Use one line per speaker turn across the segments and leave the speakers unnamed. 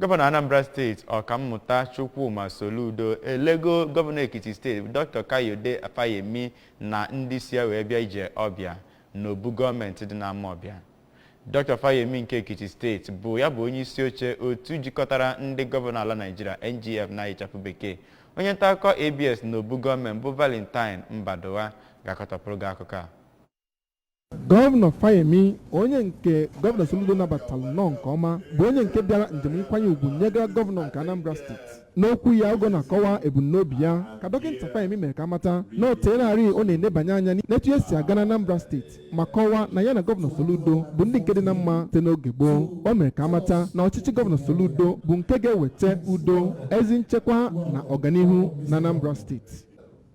gọvanọ anambra steeti ọkammụta chukwuma soludo elego gọvanọ ekiti steeti dr kayode fayemi na ndị so ya wee bịa ije ọbịa n'obu gọọmenti dị n'amawbia dr fayemi nke ekiti steeti bụ ya bụ onye isi oche otu jikọtara ndị gọvanọ ala naijiria ngf na ịchafụ bekee onye nta akụkọ abs n'obu gọọmenti bụ valentine mbadugha ga-akọtọpụrụ gị akụkọ a
gọvanọ fayemi onye nke gọvanọ soludo nabatara nnọọ nke ọma bụ onye nke bịara njem nkwanye ugwu nyegara gọvanọ nke anambra steeti n'okwu ya oge ọ na-akọwa ebumnobi ya ka dọkịta fayemi mere ka a mata na o teelarị ọ na-enebanye anya n'etu ihe si aga na anambra steeti ma kọwaa na ya na gọvanọ soludo bụ ndị nke dị na mma site n'oge gboo o mere ka a mata na ọchịchị gọvanọ soludo bụ nke ga-eweta udo ezi nchekwa na ọganihu na anambra steeti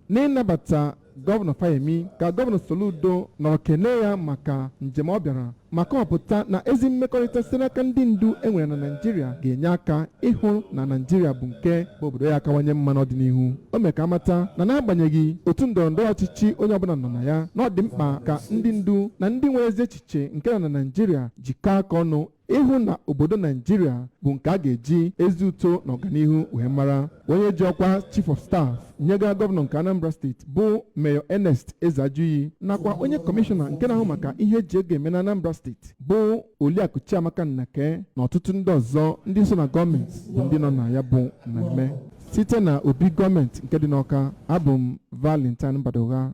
n'ịnabata gọvanọ Fayemi ka gọvanọ Soludo nọrọ kene ya maka njem ọ bịara ma kọwapụta na ezi mmekọrịta site n'aka ndị ndu e nwere na Naịjirịa ga-enye aka ịhụ na Naịjirịa bụ nke bụ obodo ya akawanye mma n'ọdịnihu o mee ka a mata na n'agbanyeghị otu ndọrọ ndọrọ ọchịchị onye ọbụla nọ na ya na ọ dị mkpa ka ndị ndu na ndị nwere ezi echiche nke nọ na Naịjirịa jikọọ aka ọnụ ịhụ na obodo naijiria bụ nke a ga-eji ezi uto na ọganihu wee mara onye ji ọkwa chief of staff nyegara gọvanọ nke anambra steeti bụ mayor ernest ezeajughi nakwa onye kọmishọna nke na-ahụ maka ihe e ji ego eme na anambra steeti bụ oliakụ chiamaka nnake na ọtụtụ ndị ọzọ ndị so na gọọmenti bụ ndị nọ na ya bụ mmemme site na obi gọọmenti nke dị n'ọka abụ m valentine mbadugha